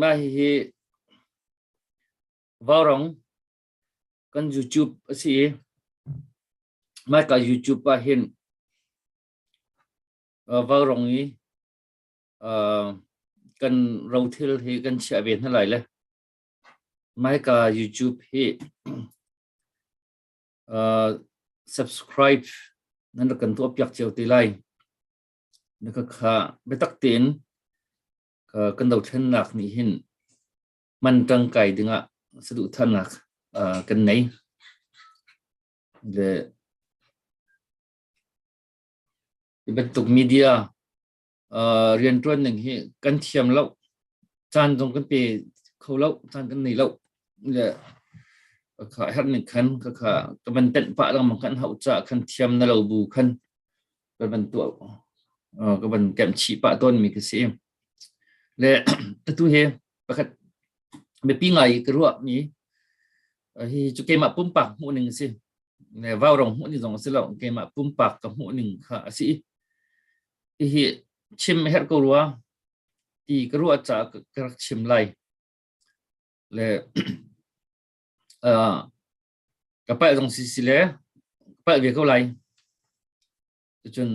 Mah hihi vaurong kan YouTube a si i mah ka YouTube ah hin vaurong i kan rothil hi kan chiah ve hna lai le mah ka YouTube hi subscribe nan rak kan tuah piak cio te lai. Na ka kha biatak tein kan dothlennak nih hin man tangkai dingah saduhthahnak kan nei. Le hi bantuk media riantuan ning hi kan thiam lo, caan zong kan pe kho lo, caan kan nei lo. Le ka herh ning khan ka man tenh pah lengmang kan hauh caah khan thiam na lo bu khan ka van tuah ka van kem chih pah tawn mi ka si le atu he pakhat biapi ngai ka ruah mi hi cu keimah pumpak hmuh ning si ne vau rong hmuh ni zong si lo keimah pumpak ka hmuh ning kha a si hi chim her ko rua ti ka ruah cha ka rak chim lai le ka palh zong si si le palh ve ko lai cun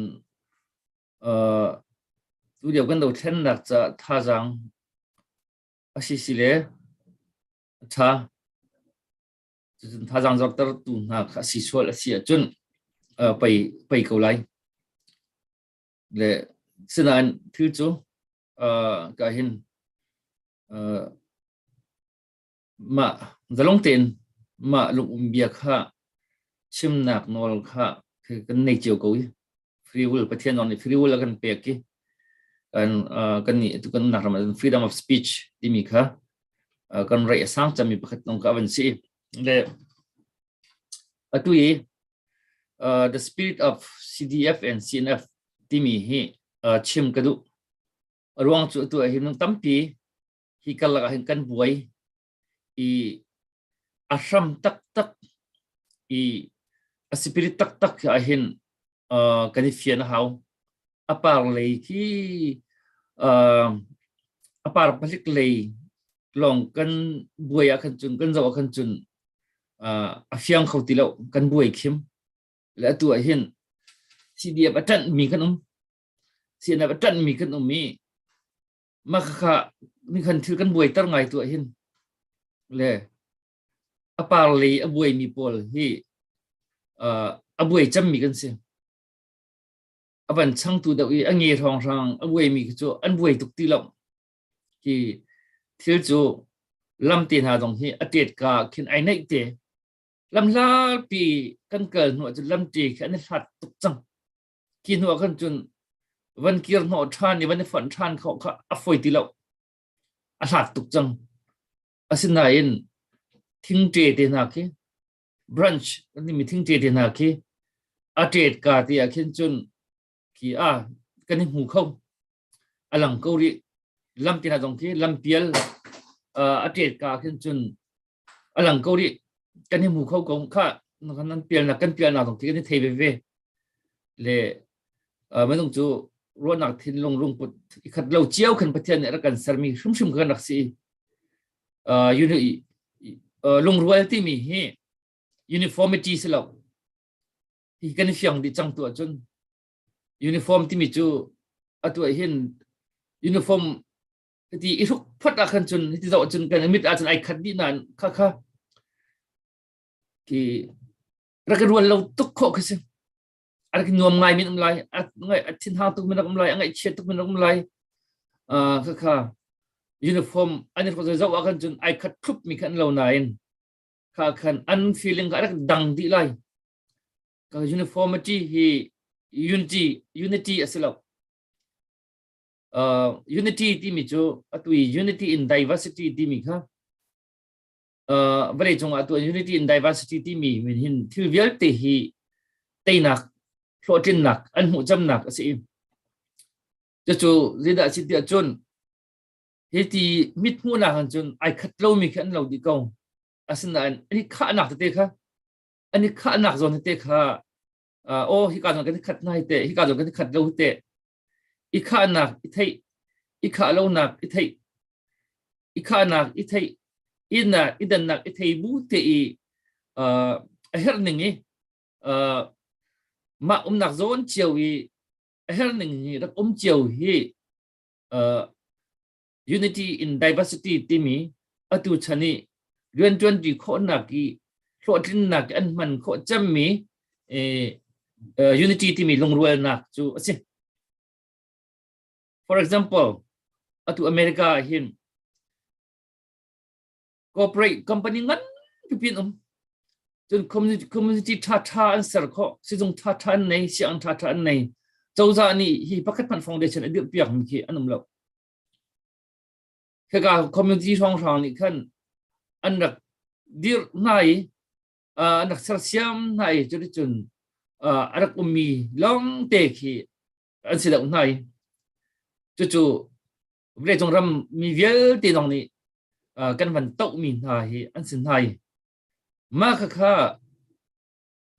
tu lio kan do thlen nak ca thazaang a si si le a tha cun thazaang zorter tu hna kha si sual a si ahcun pei pei ko lai le sinain thil cu ka hin Mah zalong tein mah lungumbia kha chimnak nawl kha kan nei cio ko i free will Pathian nawl nih free will a kan pek i kan kan nih kan nak ram ah freedom of speech timi kha kan rei a sang cami pakhat nong ka avan si le atu i the spirit of CDF and CNF timi hi chim ka duh ruang cu atu ah hin tampi hi karlak ah hin kan buai i a hram taktak i a spirit taktak ah hin uh, kan i fian a hau a par lei khi uh, a par palik lei lawng kan buai ah khan cun kan zo ah khan cun uh, a fiang kho ti lo kan buai khim le atu ah hin CDF a ṭanh mi kan um CNF a ṭanh mi kan um i mah khakha nikhan thil kan buaiter ngai tu hin le a par lei a buai mi pawl hi uh, a buai cem mi kan si a van changtu deuh i a nge hrang hrang a buai mi cu an buai tuk ti lo hi thil cu lam te hna dong hi a tet ka khin ai neih te lam la pi kan kal hnu cu lam te khi an hlat tuk cang ki hnu ah khan cun van kir hnawh ṭhan i van i fonh ṭhan kho kha a foi ti lo a hlat tuk cang asinain thingṭe te hna khi branch kan mi thingṭe te hna khi a ṭet ka ti ah khin cun ki a kan i hmu kho a lang ko rih lam ti zong khi lam pial a ṭet ka khin cun a lang ko rih kan hi mu kho ko kha nan pial na kan pial na zong khi kan hi thei veve le minung cu ruahnak thinlung lungput ikhat lo cio khan pathian nih rak kan sermi hrimhrim kan rak si lungrual timi hi uniformity si lo hi kan fiang dih cang tu ahcun uniform timi cu atu ah hin uniform hiti i hruk phot ah khan cun hiti zoh cun kan mit ah cun ai khat dih na kha kha ki rak rual lo tuk kho kha si rak nuam ngai min um lai ngai thin ha tuk min um lai ngai chia tuk min um lai a kha kha uniform ani ko zo a kan cun ai khat thup mi khan lo nain kha khan an feeling ka rak dang di lai uniformity hi unity unity a si lo uh, unity timi cu atu unity in diversity timi kha uh, vale cung atu unity in diversity timi min hin thil vialte hi teinak hlawhtlinnak an hmuh camnak a si cu zidah si tiah cun hi ti mit hmuhnak han cun ai khat lomi khi an lo dih ko asinain hi khahnak tete kha ani khahnak zawn te kha aw hika zong kan khat nai te hika zong kan khat lo te i khahnak i thei i khah lonak i thei i khahnak i thei ina i dannak i thei bu te i a her ning i ma umnak zawn cio i a her ning hi rak um cio hi unity in diversity timi atu chan i riantuanti khawhnak i hlawhtlinnak an hman khawh cemmi unity timi lungrualnak cu a si for example atu america ah hin corporate company ngan pipin um cun community community tha tha an ser kho sizung tha tha an nei siang tha tha an nei cozah nih hi pakhat man foundation adir piak mi khi an um lo khaka community hrang hrang nih khan an rak dir hna i an rak ser siam hna i curi cun a rak um mi long te khi an si deuh hna i cucu vawleicung ram mi vialte zong nih kan van tohmi hna hi an si hna i mah khakha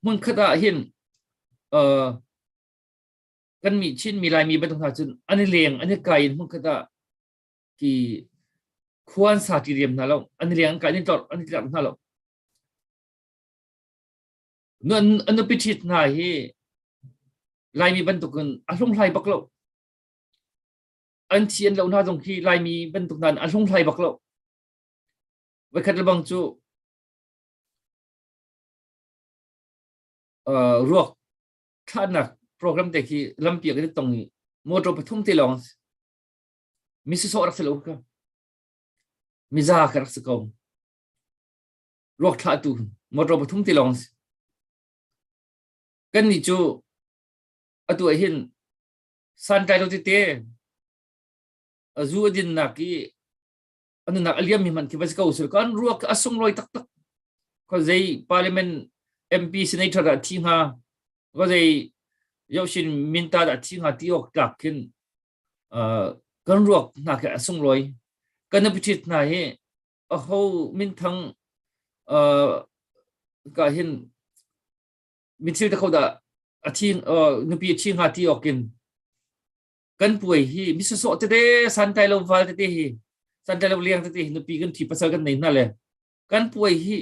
hmunkhat ah hin kan mi chin mi laimi bantuk hna cun an i leng an i kai in hmunkhat ah ki khuan sa ti diam hna lo an i leng an kai ni tlor an i tlor hna lo an upi thit hna hi laimi bantuk in a hlunghlai bak lo an thi an lo hna zong khi laimi bantuk nan a hlunghlai bak lo voikhat lebang cu uh, ruak thahnak program te khi lampi kan tong i motor pathum te long misi so rak se lo ka miza ka rak se kom ruak thlah tu motor pathum te long kan ni chu atu hin santlai tete zu a dinnak i anunak aliam mi man khi va ko sul kan ruak a sungloi tak tak ko zei parliament mp senator a thi nga ko zei yoshin minta da thi nga ti ok tlak kin kan ruak na ke a sungloi kan pitit na hi a ho min thang ka hin Mitthil te kho dah a thi nupi a thi hnga ti awkin kan puai hi misosawh tete santai lo val tete hi santai lo liang tete nupi kan thi pasal kan nei hna le kan puai hi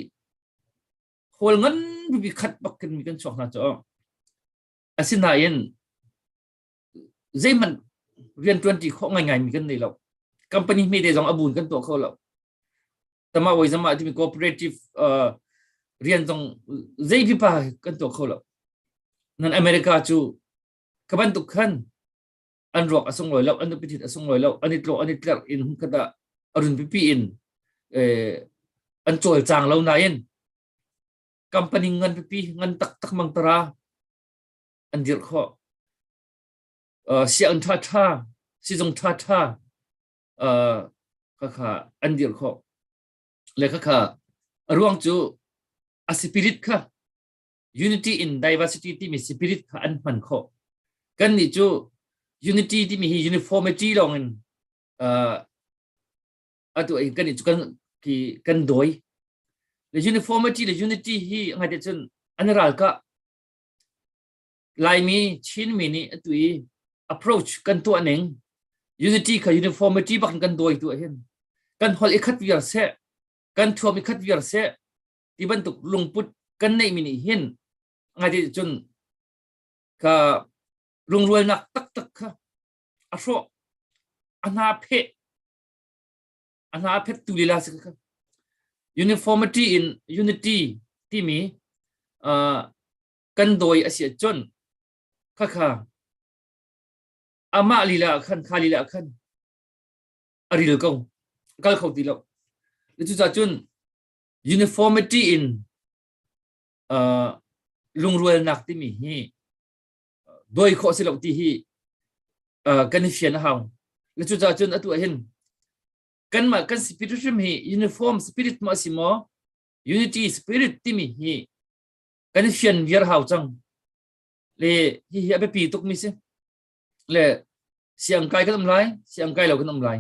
hol ngan bi khat bakin mi kan chuak hna cho asinain zeihmanh riantuan ti khawh ngai ngaimi kan nei lo company hme te zong a bun kan tuah kho lo tama wai zama timi cooperative uh, rian zong zei pipa kan tuah kho lo nan america cu kaban tuk khan an ruak asung loi lo an pitit asung loi lo an itlo an itler in hum kata arun pipi in eh, an chol chang lo na in company ngan pipi ngan tak tak mang tara an dirh khawh. Uh, sianginn ṭhaṭha, sizung ṭhaṭha, uh, khakha an dirh khawh. Le khakha a ruang cu a spirit kha unity in diversity timi spirit kha an hman khawh. Kan nih cu unity timi hi uniformity lawng in uh, atu ei kan nih cu kan ki kan doi. Le uniformity le unity hi ngai te cun an ral ka Laimi Chinmi nih atu i approach kan tuah ning unity kha uniformity bak in kan dawi tu ahhin kan hol i khat viar seh kan thuam i khat viar seh ti bantuk lungput kan neih mi nih hin ngai ti cun ka lungrualnak taktak kha a hrawh a hna pheh a hna phettu lila si uniformity in unity timi kan dawi a si cun khakha amah lila khan kha lila khan a ril ko kal kho ti lo cucah cun uniformity in lungrualnak timi hi dawi khawh si lo ti hi kan i fian a hau cucaah cun atu ahhin kanmah kan spiritualism hi uniform spirit ma si maw unity spirit timi hi kan i fian viar hau cang le hi hi a biapi tuk mi si le siang kai kan um lai siang kai lo kan um lai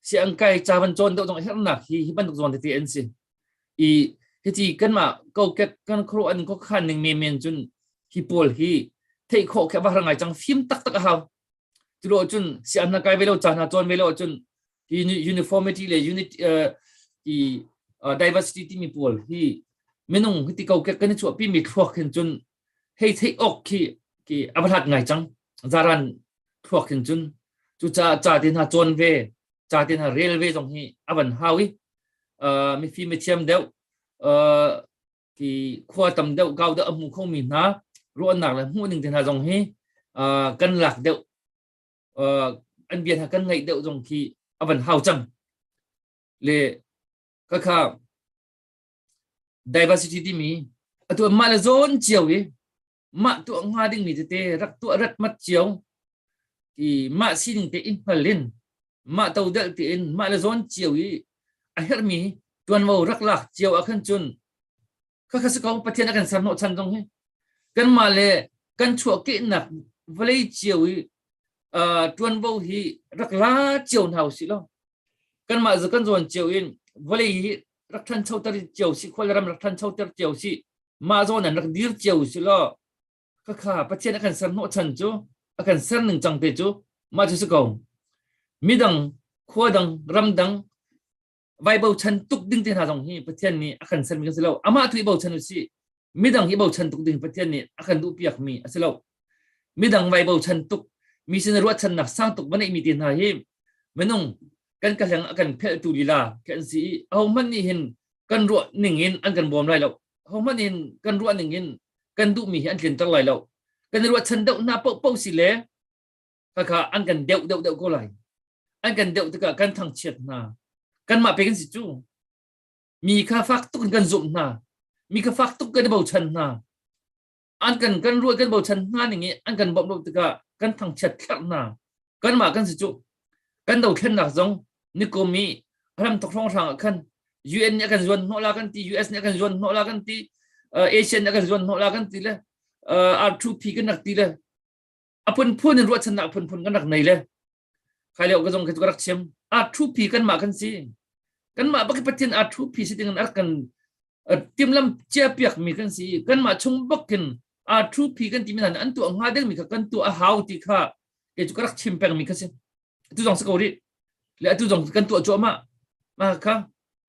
siang kai ca van cawn deuh zong hernak hi hi bantuk zuan tete an si i hici kanmah kokek kan khro an ko khan ning men men cun hi pawl hi thei kho khe ba ngai chang phim tak tak a hau tulo cun siang na kai velo cha na cawn velo cun hi uniformity le unity i diversity ti mi pawl hi minung hiti kokek kan chuah pi mi thluak hin cun hei theih awk khi ki a va hlat ngai cang zaran thluak hin cun cucaah ca te hna cawn ve ca te hna rel ve zong hi a van hau i uh, mifi mithiam deuh uh, ki khua tam deuh gau deuh a hmu kho mi hna ruahnak le hmuh ning te hna zong hi uh, kan lak deuh uh, an bia hna kan ngaih deuh zong khi a van hau cang le kakha diversity timi atu mah le zawn cio i mah tuah hnga dingmi tete rak tuah rat mat cio i mah sining te in hngal in mah to del te in mah le zawn cio i a hermi tuanvo rak lak cio ah khan cun kha kha si ko pathian a kan ser hnawh chan zong hi kan mah le kan chuah kehnak vale cio i tuanvo hi rak la cio hna si lo kan mah kan zawn cio in vale hi rak ṭhancho ter cio si khual ram rak ṭhancho ter cio si mah zawn an rak dir cio si lo ka kha pathian a kan ser hnawh chan cu a kan ser ning cang te cu mah cu si ko midang khua dang ram dang vai bo chan tuk ding te hna zong hi pathian nih a kan ser mi kan si lo amah tu i bo chan u si midang i bochan tuk ding Pathian nih a kan duhpiak mi a si lo midang vai bochan tuk mi sin ruahchannak sang tuk va neih mi te hna hi minung kan ka hleng a kan phelhtu lila kan si i ho hmanh nih hin kan ruah ning in an kan bawm lai lo ho hmanh in kan ruah ning in kan duh mi hi an tlin ter lai lo kan ruahchan deuh hna poh poh si le kakha an kan deuh deuh deuh ko lai an kan deuh tikah kan thangchiat hna kan mah pe kan si cu mi kha fak tuk in kan zumh hna mi kha fak tuk kan i bochan hna an kan kan ruah kan bochan hna ning i an kan bawmh lo tikah kan thangchiat thlarh hna kanmah kan si cu kan dothlennak zong nikum i ram thong hrang ah khan UN nih a kan zuan hnawh la kan ti US nih a kan zuan hnawh la kan ti Asian nih a kan zuan hnawh la kan ti le R2P kan rak ti le a phunphun in ruahchannak phunphun kan rak nei le khai leo ka zong ka rak chim a thupi kanmah kan si kanmah bak pathin a thupi si ding ar kan timlam chia piak mi kan si kanmah chung bakin a thupi kan ti mi an tu hnga ding mi kha kan tu a hau ti kha e chu ka rak chim peng mi kha si tu zong si ko rih le atu zong kan tuah cuahmah mah kha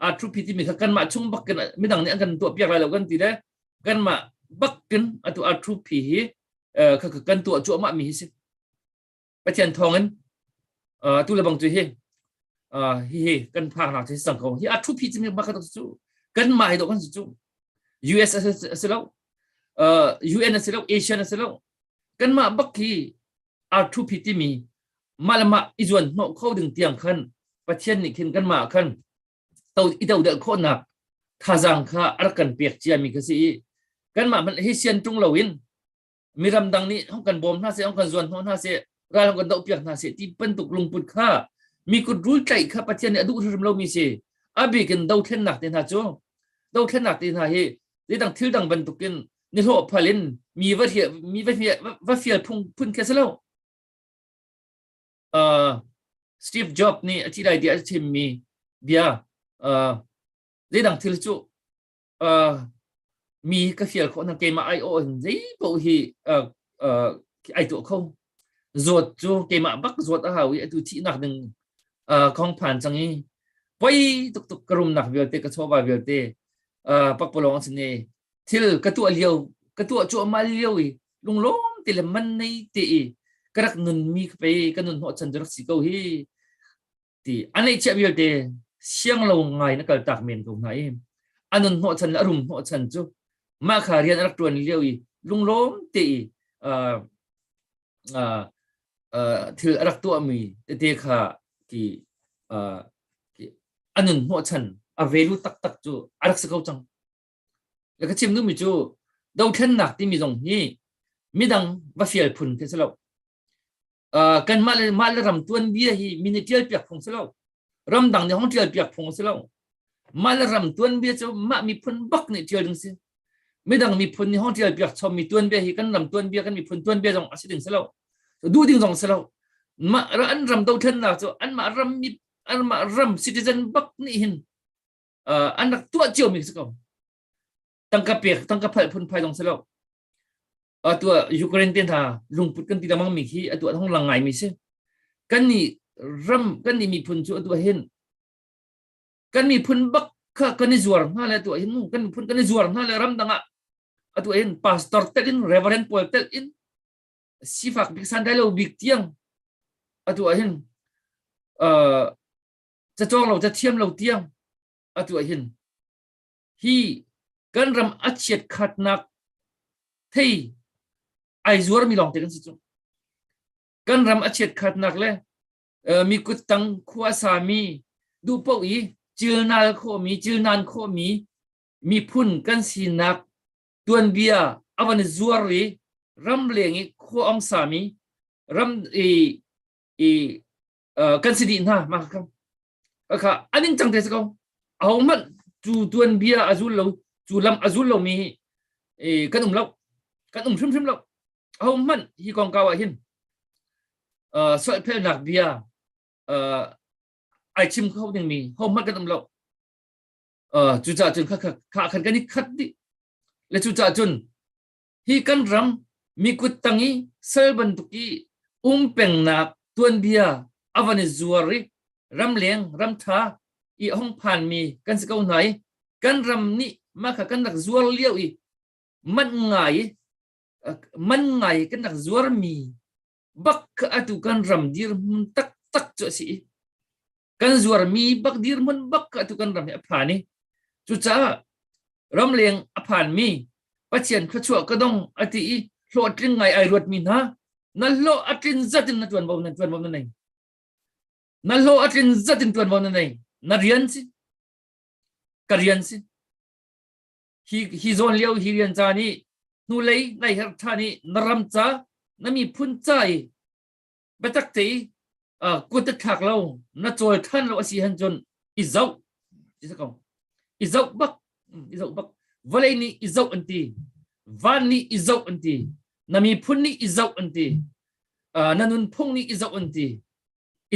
a thu phi ti mi kha kanmah chung bakin midang nih an kan tuah piak lai lo kan ti le kanmah bakin atu a thu phi hi kha kan tuah cuahmah mi hi si pathian thawngin tu le bang cu hi hi hi kan phak nak hi sang ko hi a thu phi ti mi bakhat cu kan ma hi do kan cu US asi lo UN asi lo Asian asi lo kanmah bak hi arthupi timi malamah i zuan hnawh kho ding tiang khan pathian nih khin kanmah khan to i dodelh khawhnak thazaang kha a rak kan pek ciami kha si i kanmah hmanh hi sian tung loin mi ramdang nih hong kan bawm hna seh hong kan zuan hnawh hna seh ral hong kan dohpiak hna seh ti bantuk lungput kha mi kut rul tlaih kha pathian nih a duh hrim lomi si abikin dothlennak te hna cu dothlennak te hna hi nidang thil dang bantukin ni hlo phal in mi va hria mi va hria va fial phung phun khe selo uh, Steve Jobs nih a ti lai dia a chim mi bia uh, nidang thil cu uh, mi ka fial khawh nang keima ai o in zei bo hi uh, uh, ai tu kho zawt cu keimah bak zawt a hau i atu thihnak ding uh, khong phan cang i poi tuk tuk ka rumnak vialte ka chawva vialte uh, pakpalong a sine thil ka tuah liau ka tuah chuah ma liau i lunglom te le man nei te i ka rak nun mi ka pe ka nun ho chan rak si ko hi ti an ei chiah vialte siang lo ngai na kaltak men ko hna i anun hnawh chan le arum hnawh chan cu mah kha rian rak tuan lio i lunglawm te i uh, uh, uh, thil rak tuah mi te kha ki uh, anun hnawh chan a velu tak tak cu arak se ko cang ka chim nu mi cu dothlennak timi zong hi midang va fial phun te selo uh, kan mah le mah le ram tuan bia hi min tial piak phung si lo ram dang ni hong tial piak phung si lo mah le ram tuan bia cu mah miphun bak ni tial ding si midang miphun ni hong tial piak chom mi tuan bia hi kan ram tuan bia kan miphun tuan bia zong a si ding si lo du ding zong si lo mah an ram do then na cu an mah ram mi an mah ram citizen bak ni hin uh, an rak tua chiu mi si ko tangka pek tangka phal phun phai dong si lo atu Ukraine te hna lungput kan ti lamang mi khi atu thong lang ngai mi si kan ni ram kan ni miphun cu atu hin kan miphun bak kha kan i zuar hna le atu hin kan miphun kan i zuar hna le ram dangah atu hin pastor tel in reverend paul tel in sifak bik sandai lo bik tiang atu hin uh, cacawng lo cathiam lo tiang atu hin hi kan ram a chiat khatnak thei ai zuar mi lawng te kan si cu kan ram a chiat khatnak le mi kut tang khua sa mi duh po i chilnal khaw mi chilnan khaw mi miphun kan sinak tuanbia avan zuar ri ram leng i khua ong sa mi ram i i kan si di hna ma kham kakha a ningcang te si ko ho hmanh cu tuanbia a zul lo cu lam a zul lomi kan um lo kan um hrimhrim lo ho hmanh hi kongkau ah hin solhphelnak bia ai chim kho dingmi ho hmanh kan um lo cucah cun kha khan kan i khat dih le cucah cun Hi kan ram mikut tang i sal bantuk i um pengnak tuanbia a van i zuar i ramleng ramtha i hong phanmi kan si ko hna i kan ram nih mah kha kan rak zuar lio i man ngai man ngai kan rak zuar mi bak kha atu kan ram dir hmun taktak cu a si i kan zuarmi bak dirmun bak atu kan ram hi a phan i cucaah ramleng a phanmi pathian thluachuah ka dong ati i hlawhtling ngai ai ruatmi hna na hlo a tlin zatin na tuan bo na tuan bo na nei na hlo a tlin zatin tuan bo na nei na rian si ka rian si hi hi zawn lio hi rian ca ni hnulei nai her tha ni na ram ca na mi phun ca i biatak te kut te thlak lo na cawi than lo asi han cun i zoh i zoh bak i zoh bak vawlei nih i zoh an ti van nih i zoh an ti na miphun nih i zoh an ti na nunphung nih i zoh an ti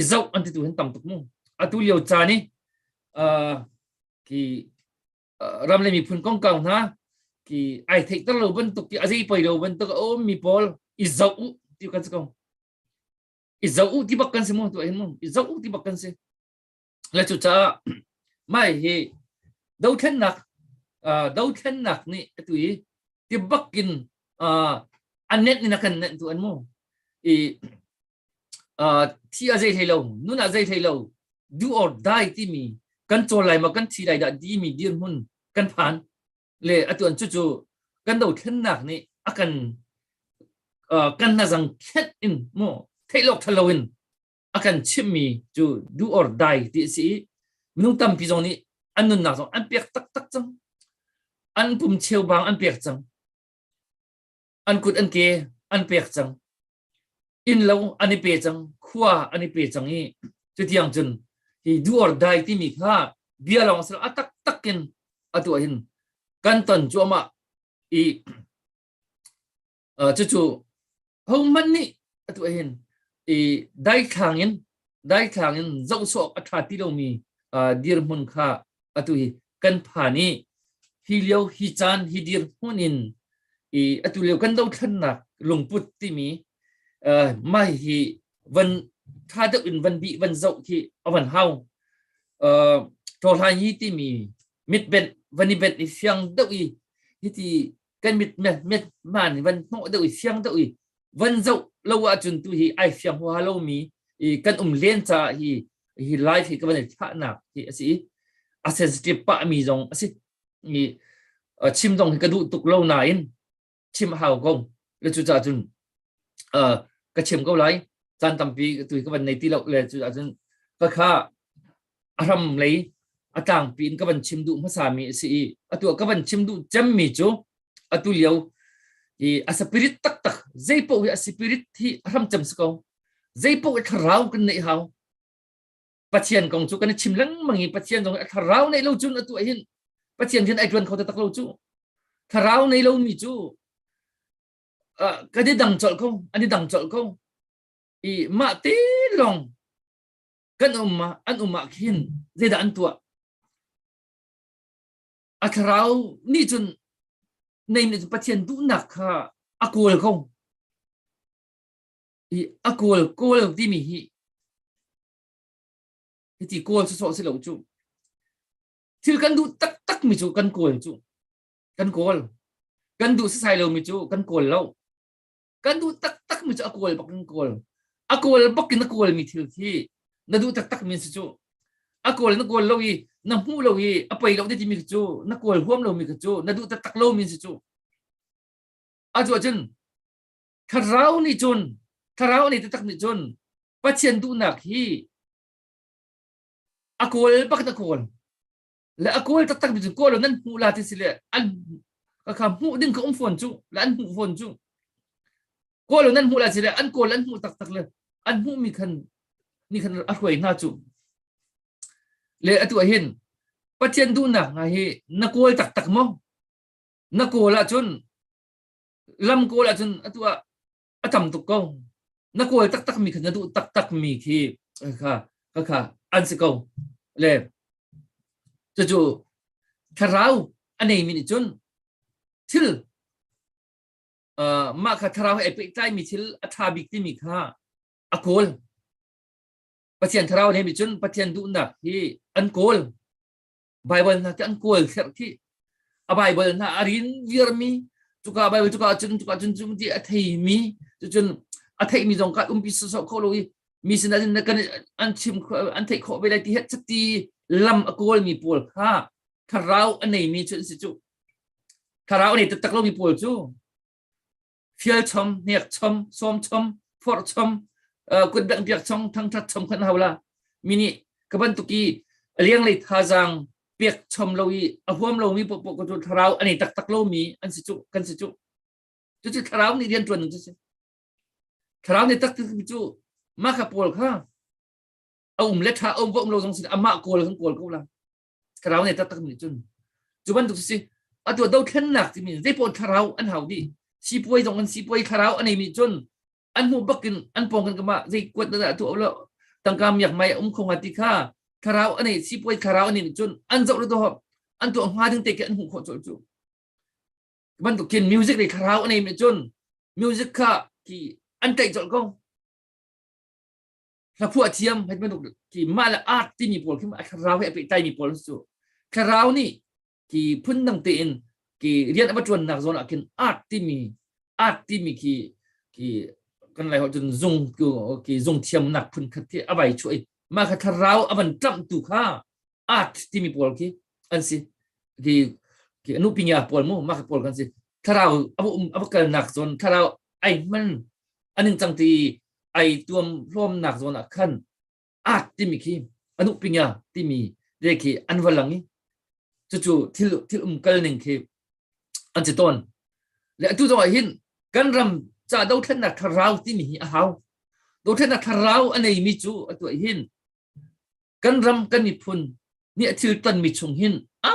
i zoh an ti tu hin tam tuk mu atu lio caan i ki ram le miphun kongkau hna ki ai theik ter lo bantuk ki azei poi lo bantuk o mi pawl i zau u ti kan si kong i zau u ti bak kan si mu tu mu i zau u ti bak kan si la cu cha mai hi do thlennak do thlennak ni tu i ti bakin anet ni na kan net tu an mu i thi a zei hlei lo nun a zei hlei lo do or die timi kan cawl lai ma kan thi lai dah timi dirhmun kan phan le atuan cu cu kan do thlennak nih a kan kan na zang khet in mo theilok thalo in a kan chimmi cu do or die ti si minung tampi zong nih an nunnak zong an pek taktak cang an pum cheu bang an pek cang an kut an ke an pek cang innlo an i pe cang khua an i pe cang i tutiang cun hi do or die timi kha bia lawng silo a tak tak in atu hin kan ton cuama i cucu hohmanh nih atu hin i daithlang in daithlang in zohsawk a ṭha ti lomi dirhmun kha atu hi kan pha nih hi lio hi caan hi dirhmun in i atu lio kan dothlannak lungput timi uh, mai hi van tha deuh in van bi van zoh khi avan hau uh, thohlai hi timi mitbet van i bet i fiang deuh i hi ti kan mit met man van hnawh deuh i siang deuh i van zoh lo ahcun tu hi ai siang hua lomi i kan um len ca hi hi life hi ka van i thahnak hi a si i a sensitive pa mi zong a si mi chim dong hi ka duh tuk lo nain chim hau ko le cu ca cun ka chim ko lai caan tampi tu ka van nei ti lo le cu ca cun ka kha a hram lei a tlangpi in ka van chim duh hmasami a si i atu ka van chim duh cemmi cu atu lio i a spirit taktak zeipaoh hi a spirit hi a hram cem si ko zeipaoh i thlarau kan neih hau pathian kong cu kan i chim lengmang i pathian kong a thlarau neih lo cun atu hin pathian hin ai ṭuan kho taktak lo cu thlarau nei lomi cu kan i dang colh ko an i dang colh ko i mah te lawng kan um ah an um ah hin zeidah an tuah a thlarau nih cun nei nih cun pathian duhnak kha a kawl ko i a kawl kawl timi hi hiti kawl su sawh si lo cu thil kan duh taktak mi cu kan kawl cu kan kawl kan duh sisai lo mi cu kan kawl lo kan duh taktak mi cu a kawl bak in kawl a kawl bak in a kawl mi thil khi na duh taktak mi si cu a kawl na kawl lo i na hmuh lo i a pei lo ti mi cu na kawl huam lo mi cu na duh taktak lo mi si cu a cu cun thlarau nih cun thlarau nih taktak nih cun pathian duhnak hi a kawl bak na kawl le a kawl taktak mi cu kawl lo nan hmuh la ti si le an ka kha hmuh ding ka um fawn cu le an hmuh fawn cu kawl lo nan hmuh la si le an kawl an hmuh taktak le an hmuh mi khan ni khan a hruai hna cu le atu ah hin pathian duhnak nga hi na kawl taktak mo na kawl ah cun lam kawl ah cun atu ah a tam tuk ko na kawl taktak mi kha na duh taktak mi khi kha kha kha an si ko le cucu thlarau a nei mi nih cun thil mah kha thlarau he pehtlai mi thil a ṭha bik timi kha a kawl pathian thlarau le mi cun pathian duhnak hi an kawl Bible hna te an kual thlerh khi a Bible hna a rin virmi cuka Bible cuka cun cuka cun cum ti a thei mi cucun a theih mi zong kan umpi soso kho lo i mi sin ahcun kan an chim an theih khawh ve lai ti he chati lam a kawl mi pawl kha thlarau a nei mi cu an si cu thlarau a nei taktak lo mi pawl cu fial chom hnek chom som chom phor chom kun dang biak chong thang that chom khan hawla mini kaban tuki liang lei tha jang pek chom lo i a huam lo mi po po ko tu tharau ani tak tak lo mi an si chu kan si chu chu chi tharau ni rian tuan chu si tharau ni tak tak chu ma kha pol kha a um le tha om vom lo jong sin ama kol kan kol ko la thlarau nih taktak nih cun cu bantuk si a tua dothlennak timi zei pawl thlarau an hau di sipuai zong an sipuai thlarau an ei mi cun an hnu bakin an pawng kan kama zei kuat da tu lo tangka miak mai um khonga ti kha thlarau an ei sipuai thlarau an ei cun an zo ru to hop an tu nga ding te ke an hmu kho chol chu bantuk kin music ri thlarau an ei mi cun music kha ki an tei chol ko hlaphuah thiam hei banuk ki mah le art ti mi pawl khi a thlarau he a pehtai mi pawl cu thlarau nih ki phun dang te in ki rian a tuan nak zawn ah kin art ti mi art ti mi ki ki kan lai ho cun zung ki zung thiam nak phun khat khi a vai chuai ma kha thlarau a van tram tu kha art timi pawl khi an si ki ki anu pingia pawl mu mak pawl kan si tharau abu abu kal nak zon tharau ai man aning chang ti ai tuam hlom nak zon a khan art timi khi anu pingia timi de khi an walang i chu chu thil thil um kal ning khi an chi ton le atu zo hin kan ram cha do thlen na tharau timi hi a hau do thlen na tharau anei mi chu atu hin kan ram kan miphun nih a thil tonmi chung hin a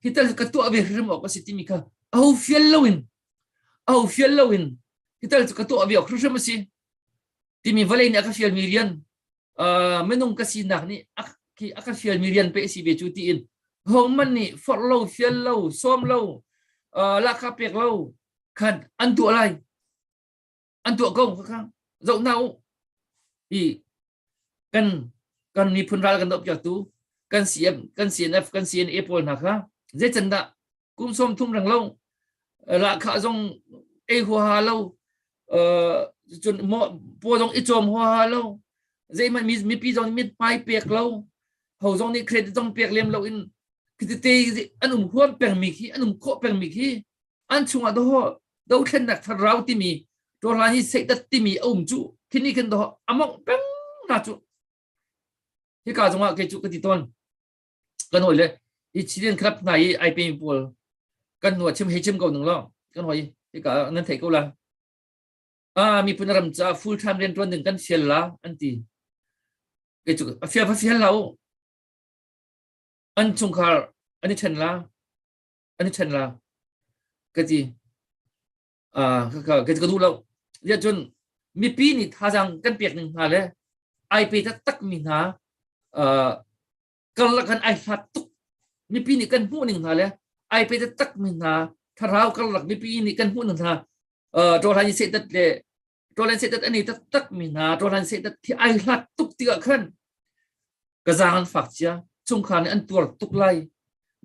hi tal ka tuah ve hrim awk a si timi kha au fial loin au fial loin hi tal ka tuah ve awk hrim a si timi vale nih a ka fialmi rian minung ka sinak nih a ka fialmi rian pe si ve cu tiin hong man nih forh lo fial lo sawm lo lahka pek lo khan an duah lai an tuah ko khang zoh na u i kan kan miphun ral kan doh piaktu kan CM kan CNF kan CNA pawl hna kha zeican dah kum som thum rang lo lahkhah zong ei huaha lo cun po zong i cawm huaha lo zeihmanh mipi zong mit pai pek lo ho zong nih credit zong pek lem lo in kitete an um huam pengmi khi an um khawh pengmi khi an chungah do dothlennak tharau timi ṭorlan hi seidat timi a um cu khini khin do among peng na cu hi ka zungah ke cu ka ti ton kan hoi le i chilian club hna i ai pe pawl kan nuwa chim hei chim ko nung lo kan hoi hi ka nan thei ko la a mi pun ram cha full time rian tuan ding kan sial la an ti ke cu a fia fa fial lau an chungkhar an i chen la an i ṭhen la ka ti kaka ka ka duh lo ya cun mipi nih thazaang kan pek ning hna le ai pe taktak mi hna karlak han ai hlat tuk mipi nih kan hmuh ning hna le ai pe taktak mi hna thlarau karlak mipi nih kan hmuh ning hna ṭawhra ni setat le ṭawlen sedat ani taktak mi hna ṭawlen sedat hi ai hlat tuk tikah khan ka zang an fak cia chungkhar nih an tuar tuk lai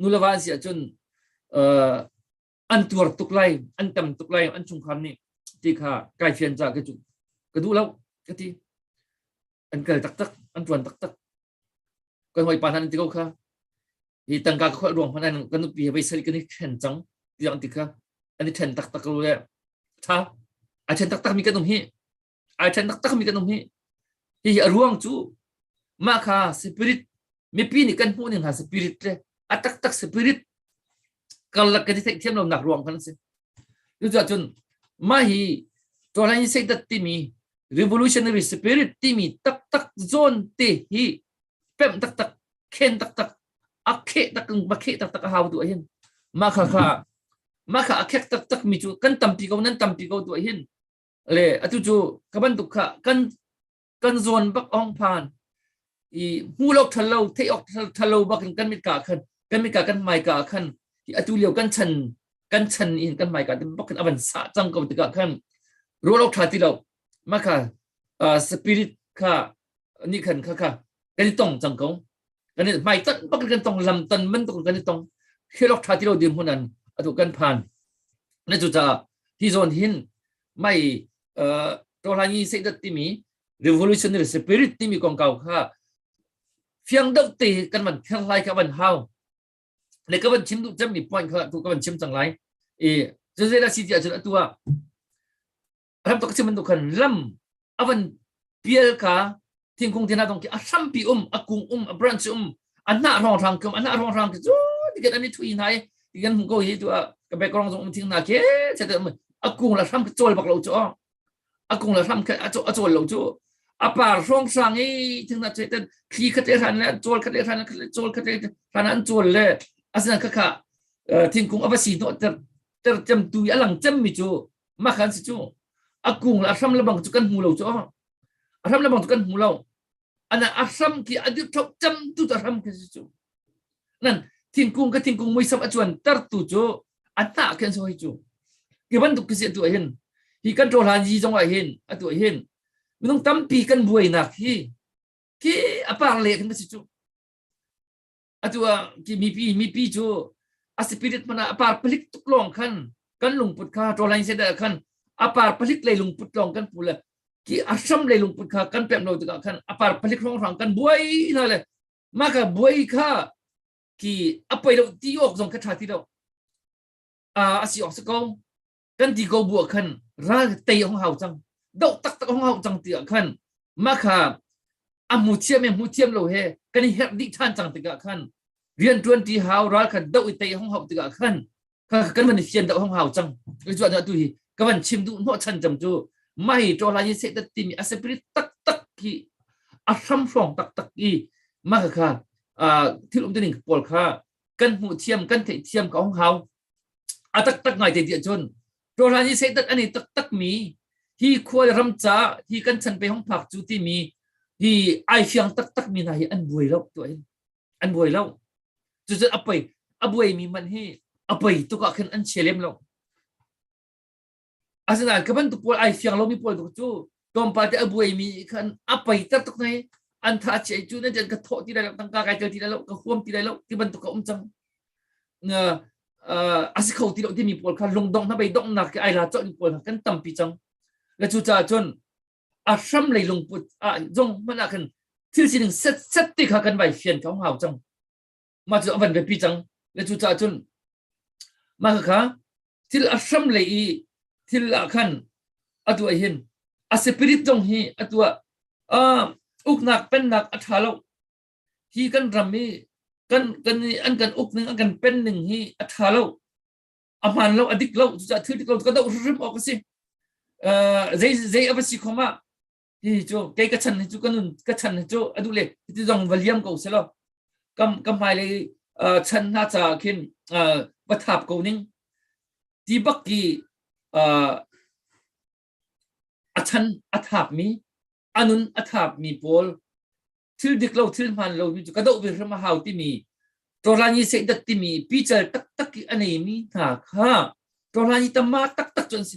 nule va si ahcun an tuar tuk lai an tam tuk lai an chungkhar nih ti kha kai fian ca ka cu ka duh lo ka ti an kal taktak an ṭuan taktak kan hawi pa hnan ti ko kha i tangka khual ruang hman an kan nupi he voi sari kan i then cang tiang ti kha an i then taktak lo le tha a then taktak mi kan um hi ai then taktak mi kan um hi hi a ruang chu ma kha spirit mipi nih kan hmuh ning ha spirit le a tak tak spirit kan lak kan i theih thiam lo nak ruang kan si tu cha chun ma hi tuan hi sei dat ti mi revolutionary spirit ti mi tak tak zon te hi pem tak tak khen taktak a khe tak ba khe taktak a hau tu hin ma kha kha ma kha a khek taktak mi chu kan tampi ko nan tampi ko tu hin le atu chu ka ban duk kha kan kan zuan bak ong phan i mu lo thalo thei ok thalo bak in kan mit ka khan kan mit ka kan mai ka khan i atu liu kan chan kan chan in kan mai ka bak in aban sa chang ko tika khan ro lo tha ti lo ma kha spirit kha ni khan kha kha kan i tong cang ko kan i mai tan bak kan tong lam tan man tuk kan i tong hilok tha ti lo dim hunan atu kan phan na cu caah hi zon hin mai to hlangi sei dat timi revolutionary spirit timi kong kau kha fiang deuh te kan man phiang lai ka van hau le ka van chim du cem mi point kha tu ka van chim cang lai e zezela city acun atua ram tuk si bantuk khan lam avan pial ka thingkung thina dong ki a hrampi um a kung um a branch um a na rong rang kum a na rong rang ki chu tiket ani thui na i tikan hmu ko hi tu a ka background zong um thing na ke che te a kung la hram ki chol bak lo chu a kung la hram ki a chol lo chu a par hrong sang i thing na che ten thli khat e ran le chol khat e ran chol khat e ran an chol le asina khakha thingkung ava si no ter ter chem tu alang chem mi chu mah kan si cu a kung le a hram le bang cu kan hmu lo cu a hram le bang cu kan hmu lo ana a hram ki a dir thok cham tu ta hram ki si cu nan thingkung ka thingkung mui sap a chuan tar tu cu a ta khen so hi cu ki bantuk ki si tu hin hi kan tro hlan ji zong ah hin atu hin minung tampi kan buai nak hi ki apar le kan si cu atu ah ti mipi mipi cu a spirit mana a par palik tuk long khan kan lungput kha tolain se da khan a par palik lei lungput long kan pu le ki asham lei lungput kha kan pem lo tikah khan a par palik rong rang kan buai la le ma ka buai kha ki a poi lo ti ok zong ka tha ti lo a asi ok se ko kan ti ko bu ah khan ral tei hong hau cang doh taktak hong hau cang ti ah khan ma kha a mu thiam e mu thiam lo he kan i herh dih than cang tikah khan rian tuan ti hau ral khan doh i tei hong hau tikah khan kan van i fian doh hong hau cang ku chu tu hi ka van chim du no chan cham chu mai to la ye se tati mi a spirit tak tak ki a sham shong tak tak i ma kha thil um tining paul kha kan hmuh thiam kan theih thiam ka hong hau a taktak ngai te ti ahcun rawhlan i satan an i taktak mi hi khua le ram ca hi kan chan pe hong phak cu timi hi ai fiang taktak mi hna hi an buai lo tu in an buai lo cucun a poi a buai mi man hi a poi tuk ah khan an che lem lo Asinain ka bantuk pawl ai fiang lomi pawl cu tlawmpal te a buaimi khan a peiter tuk nei an tha chiai cu nan jan ka thawh ti lai lo tangka kai tel ti lai lo ka huam ti lai lo ti bantuk ka um cang a si kho ti lo timi pawl kha lungdong hna bei donghnak ke ai la cawlmi pawl hna kan tampi cang le cu caah cun a hram lei lungput ah zong hmanh ah khan thil sining set set ti kha kan vai fian ko hau cang mah cu a van biapi cang na cu ca cun mah kha thil a hram lei i thil ah khan atu ah hin a spirit zong hi atu ah uknak pennak a ṭha lo hi kan ram i kan kan an kan uk ning an kan pen ning hi a ṭha lo a hmaan lo a dik lo cucaah thil dik lo ka doh hrim awk a si zei zei a va si khom ah ti cu kei ka chan hi cu ka nun ka chan hi cu adu le ti zong va liam ko selo kam kam hmai lei chan hna ca khin va thap ko ning ti bak ki a chan a thap mi anun a thap mi pawl thil dik lo thil hman lo mi cu ka do ve hram hau ti mi torlani se dat ti mi pichal tak tak ki anei mi hna kha torlani tamma tak tak chon si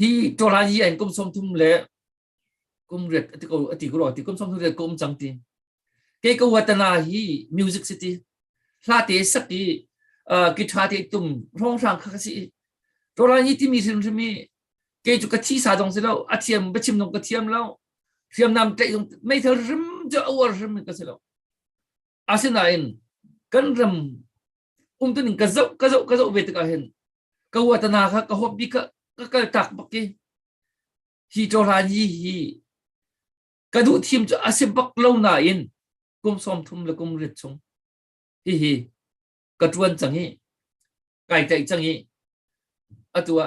hi tualai an kum som thum le kum riat ati ko ati ko ti kum som thum riat ko um cang ti ke ko watana hi music city hla te sak i guitar te tum rong sang kha si tualai hi ti mi sin mi ke chu ka thi sa dong si lo a thiam ba chim nong ka thiam lo hriam nam tlei mai thal rim jo awar rim ka si lo asinain kan ram umtuning ka zoh ka zoh ka zoh ve tikah hin ka huat na kha ka huap bi ka ka kal tak bak ki hi to hlan hi hi ka duh thim chu asim bak lo na in kum som thum le kum rit chung hi hi ka tuan chang hi kai tai chang hi atua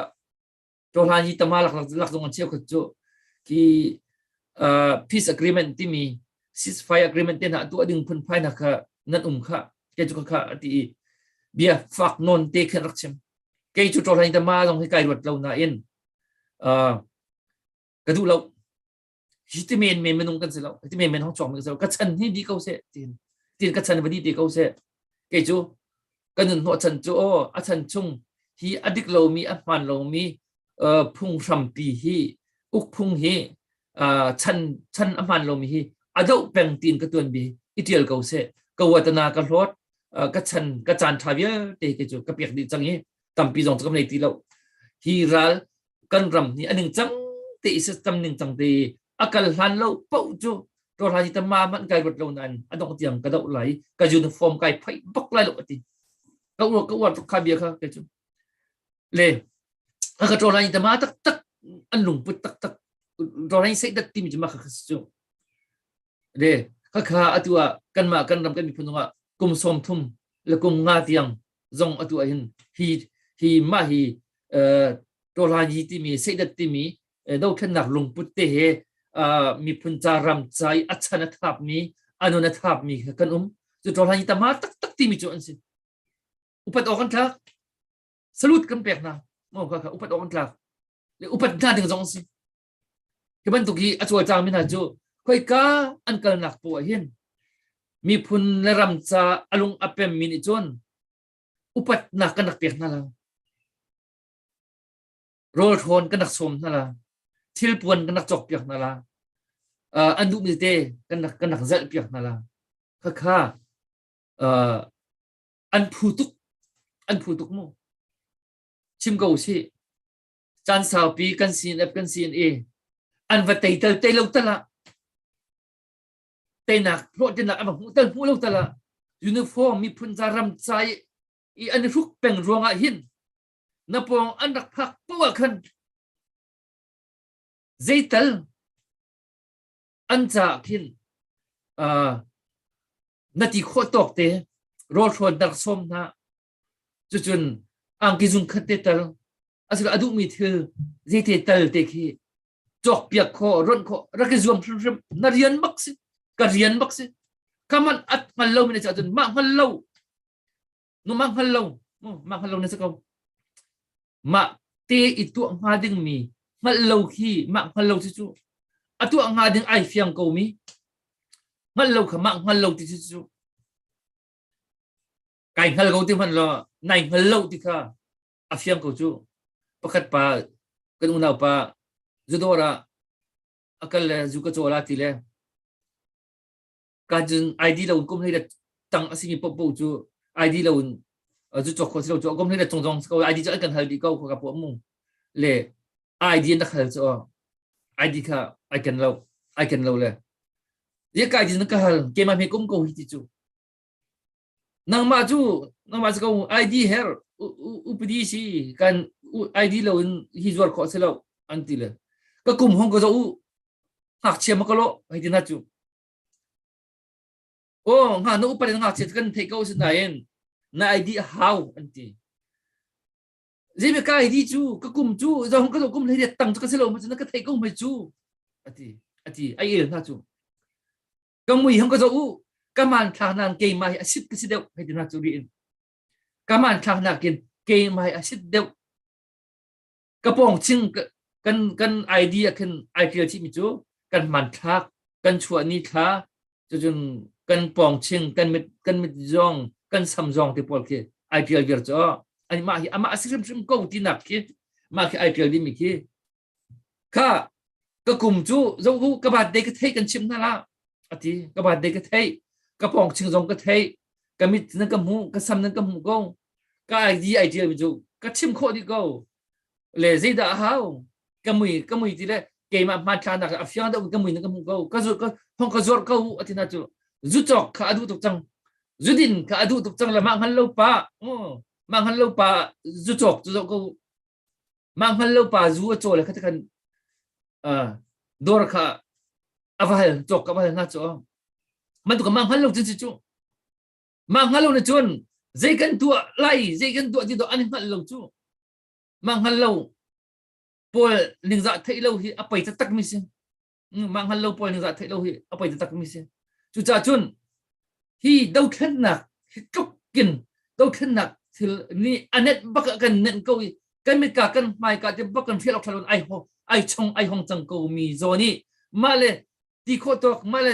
Cu hla hi tama lak lak zong an cheu khat cu ki uh, peace agreement timi ceasefire agreement te na tu ading phun phai na kha nan um kha ke chu kha ati bia fak non te khan rak chem ke chu to hlai tama long hi kai ruat lo na in uh, ka du lo hi ti men men minung kan si lo ti men men hong chuang mi so ka chan ni di ko se tin tin ka chan va di te ko se ke chu kan nun ho chan chu o a chan chung hi adik lo mi a hman lo mi phung hram pi hi uk phung hi chan chan a hman lo mi hi ado peng tin ka tuan bi itial ko se ka watana ka hlot ka chan ka chan tha vial te ke chu ka piak di chang hi tampi zong kam nei ti lo hi ral kan ram hi a ningcang te isa tam ningcang te a kal hlan lo pauh cu to ra ji ta ma man kai rat lo nan adong tiang ka dau lai ka uniform kai phai bak lai lo ati ka ur ka ur to kha bia kha ke chu le a ka to ra ji ta ma tak tak an lung put tak tak to ra ji sai dat tim ji ma kha chu le kha kha atua kan ma kan ram kan mi phununga kum som thum la kum nga tiang zong atu ahhin hi hi mah hi tawlaini timi seidat timi dothlennak lungput te he miphun ca ram ca i a chan a thap mi anon a thap mi kan um cu tawlaini tama tak tak timi cu an si upat awk an tlak salut kan pek hna mo ka kha upat awk an tlak le upat hna ding zong si Hi bantuk i a cawlcangmi hna cu khoika an kalnak poh ah hin miphun le ram ca a lung a pemmi nih cun upatnak kan rak pek hna la, rawlhrawn kan rak sawm hna la, thilpuan kan rak cawkpiak hna la, uh, an duhmi te kan rak, kan rak zelhpiak hna la, khakha uh, an phu tuk, an phu tuk mu. Chim ko usih. caan saupi kan sin ap kan sin i an va tei tal tei lo tal ah teinak hlawhtinak an va hmuh tal hmuh lo tal ah uniform miphun ca ram ca i i an hruk peng ruangah hin na pawng an rak phak poah khan zeital an caah khin na ti khawh tawk te rawl hrawn na rak sawm hna Cucun angki zung khat te tal asiloah a duhmi thil zeite tal te khi cawkpiak khawh ronh khawh rak i zuam hrimhrim na rian bak si ka rian bak si kaman at hngal lo mi na cah cun mah hngal lo nu mah hngal lo mah hngal lo na si ko mah te i tuah hnga ding mi hngalh lo khi mah hngal lo cu a tuah hnga ding ai fiang ko mi hngalh lo kha mah hngal lo ti cu kai hngal ko ti hmanh law nai hngal lo ti kha a fiang ko cu pakhat pa kan unaupa zudawr ah a kal le zu ka caw la ti le kajin id lo in kum hlei tang a simi popo cu id lo in zu cok kho si lo cu a kum hlei chung zong ko id cu an kan hal bi ko ka po mu le id na khal chu id kha ai kan lo ai kan lo le ye ka id na ka hal ke ma me kum ko hi ti chu nangmah cu nangmah cu ko ID her upadi si kan ID lo in hi zuar kho se lo an ti le ka kum hong ka zo u hak chia ma ka lo hai tin ha chu o nga no upade nga che kan thei ko sin nain na ID how an ti zemi ka ID chu ka kum chu zong ka zo kum le tang chu ka se lo ma chu na ka thei ko mai chu ati ati ai el ha chu ka mui hong ka zo u ka man thlak na keimah hi asit ka si deuh hei tina cu ri in ka man thlak na kin keimah hi asit deuh ka pong ching kan kan idea khin ai kil chi mi cu kan man thlak kan chua ni thla cun kan pong ching kan mit kan mit zong kan sam zong te pol khi ai kil vir cho ani ma hi ama asikrim sim ko ti nak khi ma khi ai kil di mi khi kha ka kum cu zoh u ka baat dei ka theih kan chim hna la a ti ka baat dei ka theih ka pawng ching zong ka theih ka mit nan ka hmu ka sam nan ka hmu ko ka idea ideal mi cu ka chim khawh dih ko le zeidah a hau ka mui ka mui ti le keimah hma thla nak a fiang da ka mui nan ka hmu ko ka zur ka hong ka zor ko a ti na cu zu cok kha adu tuk cang zudin kha adu tuk cang le mah ngan lo pa mah ngan lo pa zu cok zu zo ko Mah hngal lo pa zu a caw le kha ti khan dawr kha a va hal cawk ka va hal hna cu bantuk mah hngal lo cun si cu mah hngal lo na cun zei kan tuah lai zei kan tuah ti to an hngal lo cu mah hngal lo paul ningzah theih lo hi a pei taktak mi si mah hngal lo puan zah theih lo hi a poi taktak mi si cucah cun hi dothlennak hi tluk in dothlennak thil ni anet bak kan nen ko i kan mit ka kan hmai ka te bak kan fial ok thalon ai ho ai chong ai hong chang ko mi zo ni ma le ti kho tok ma le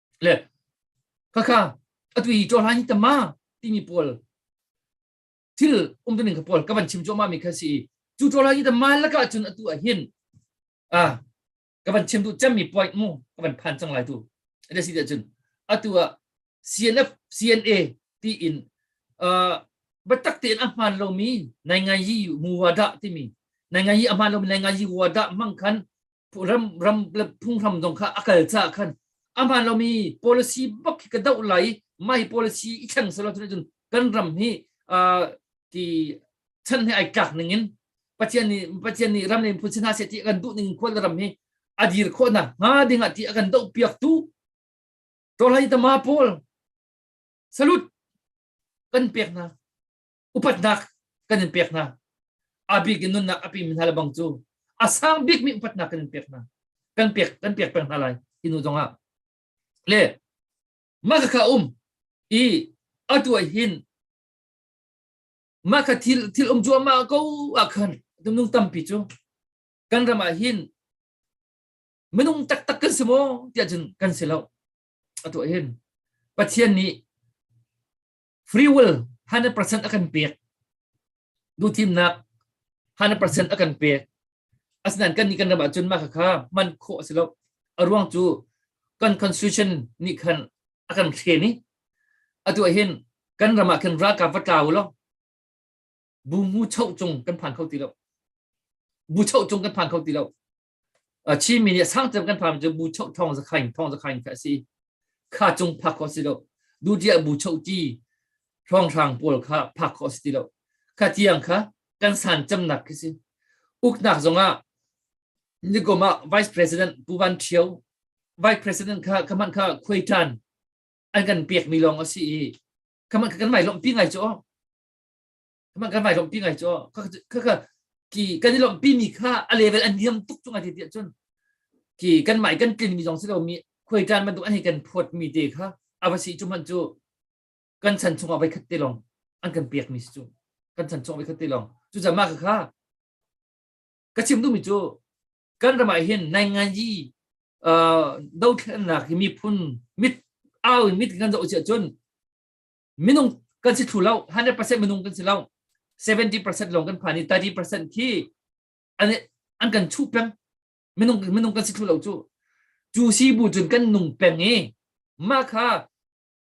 le khakha atui chawhlan hi tama timi pawl thil um tuning ka pawl ka van chim choma mi kha si chu chawhlan hi tama laka chun atu a hin a ka van chim tu chem mi point mu ka van phan chang lai tu ade si cun atu a CNF CNA ti in uh batak te a hman lo mi nai ngai yi mu wada ti mi nai ngai yi a hman lo mi nai ngai yi wada mang khan ram ram le phunghram dong kha a kal ca khan aman lomi policy bak hi ka doh lai mai policy i thleng selo tun cun kan ram hi ti chan he ai kak ning in pathian nih pathian nih ram ne phun sin ha se ti kan duh ning khol ram hi adir kho na nga ding ati akan do piak tu to lai tama pol salut kan pek na upatnak kan in pek hna abik in nunnak api mi hna lebang cu a sang bik mi upatnak kan in pek hna kan pek kan pek peng hna lai inu zong ah le maka kha um i atu ah hin maka thil thil um chu ma ko a khan tumnung tampi chu kan ram ah hin minung taktak kan si maw tiah cun kan si lo atu ah hin pathian nih free will 100% a kan pek duhthimnak 100% a kan pek asinain kan nih kan ram ahcun mah kha man khawh a si lo a ruang cu kan constitution nih khan a kan thlen i atu ah hin kan ram ah khin ralkap va tla u law bu ngu choh cung kan phan kho ti lo bu choh cung kan phan kho ti lo A chimi nih a sang cem kan phang cu bu choh thawng zakhain thawng zakhain kha a si. Kha cung phak kho si lo. Dujiah bu choh ti hrawng hrang pawl kha phak kho si ti lo. Kha tiang kha kan san cemnak khi si. Uknak zongah nikum ah vice president Pu Van Thio vice president kha khaman kha khuaitan an kan pek mi lawng a si i khaman kha kan mai lawmh pi ngai cu Kaman kan vai lawmpi ngai cu ka ka ki kan i lawmpi mi kha a level an niam tuk chung ati tiah cun ki kan mai kan tlin mi zong si lo mi khoi tan bantuk an hi kan phot mi te kha ava si chu man chu kan chan chung a vai khat te long an kan piak mi si chu kan chan chung a vai khat te long chu zama ka kha ka chim tu mi chu kan ramai hin nai nganji do thlennak hi mi phun mit au mit kan zo che chun minung kan si thlu lo 100% minung kan si lo 70% lawng kan phan i 30% khi an an kan chuh peng minung minung kan si thlu lo cu cu si bu cun kan nung peng i mah kha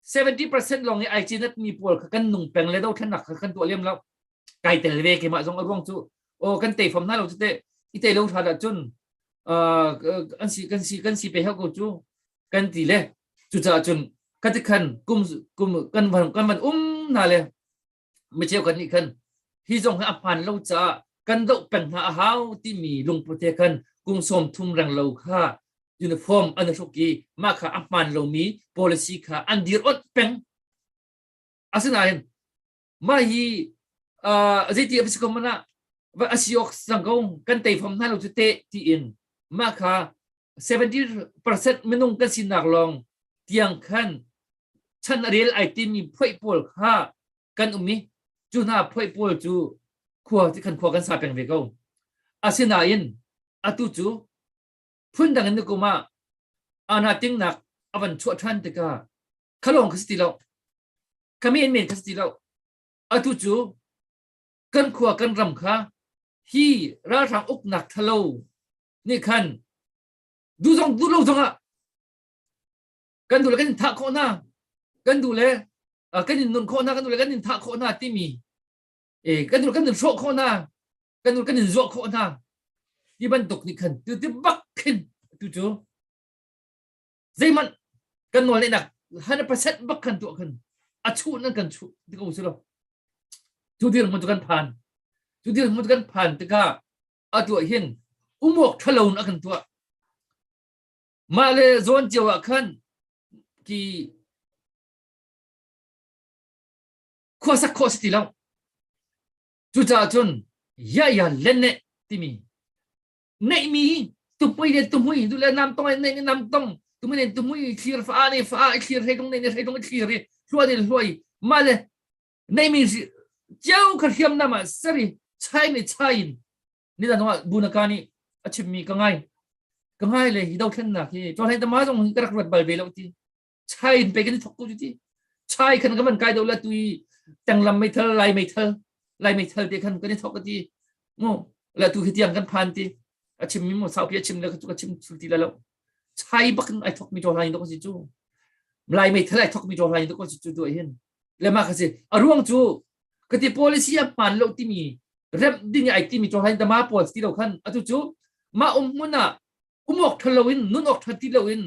70% lawng i ai cinat mi pawl kha kan nung peng le do thanak kha kan tuah lem lo kai tel ve ke mah zong a ruang cu o kan te fam na lo cu te i te lo thra da cun an si kan si kan si pe heo ko cu kan ti le cucaah cun kati khan kum kum kan van kan van um na le mi cheu kan nih khan hi zong hi a hman lo caah kan doh peng hna a hau timi lungpute khan kung som thum reng lo kha uniform an hruk i mah kha a hman lomi policy kha an dir ot peng asinain mah hi zeiti a si ko man ah a si awk sang ko kan tei fam hna lo cu te tiin mah kha 70% minung kan sinak lawng tiang khan chan rel ai timi phoi pawl kha kan um i cu hna phoi pawl cu khua kan khua kan sa peng ve ko asinain atu cu phundang in na kum ah ana tingnak avan chuah than tikah khalong ka si lo kami in men ka si lo atu cu kan khua kan ram kha hi ralhrang uknak thalo ni khan du zong du lo zong ah kan du le kan thah khawh na kan du le kan in nun khawh na kan du le kan in thah khawh na timi e kan kan in hrawh khawh hna kan kan in zuah khawh hna ti bantuk nih khan tu ti bak khin tu cu zeihmanh kan nawl neihnak hundred percent bak khan tuah khan a chuh nan kan chuh ti ko si lo tu dir mu kan phan tu dir mu kan phan tikah a tuah hin umok thalo a kan tuah mah le zawn cio ah khan ki khuasak khawh si ti lo cucaah cun ya ya len ne timi neihmi tupui le tumui du le nam tong ne nam tong tumui ne tumui thlir fa ne fa thlir he dong ne he dong thlir i hluai ne hluai ma le neihmi cheu kha hriam nama sari chai me chain ni da nwa bunaka ni a chimmi ka ngai ka ngai le hi do thlen nak hi to hlai ta ma zong hi ka rak rat bal ve lo ti chai in pe kan thok ko ti chai khan ka man kai do la tu i tang lam mei thal lai mei thal lai mei thal te khan kan thok ka ti ngo la tu khi tiang kan phan ti a chim mi mo sau pi a chim le ka chim sul ti la lo chai bakin ai thok mi to lai do ko si chu lai mei thal ai thok mi to lai do ko si chu do hin le ma ka si a ruang chu ka ti policy a pan lo ti mi rep ding ai ti mi to lai dama policy lo khan atu chu ma um muna um awk ṭhalo in nun awk ṭha ti loin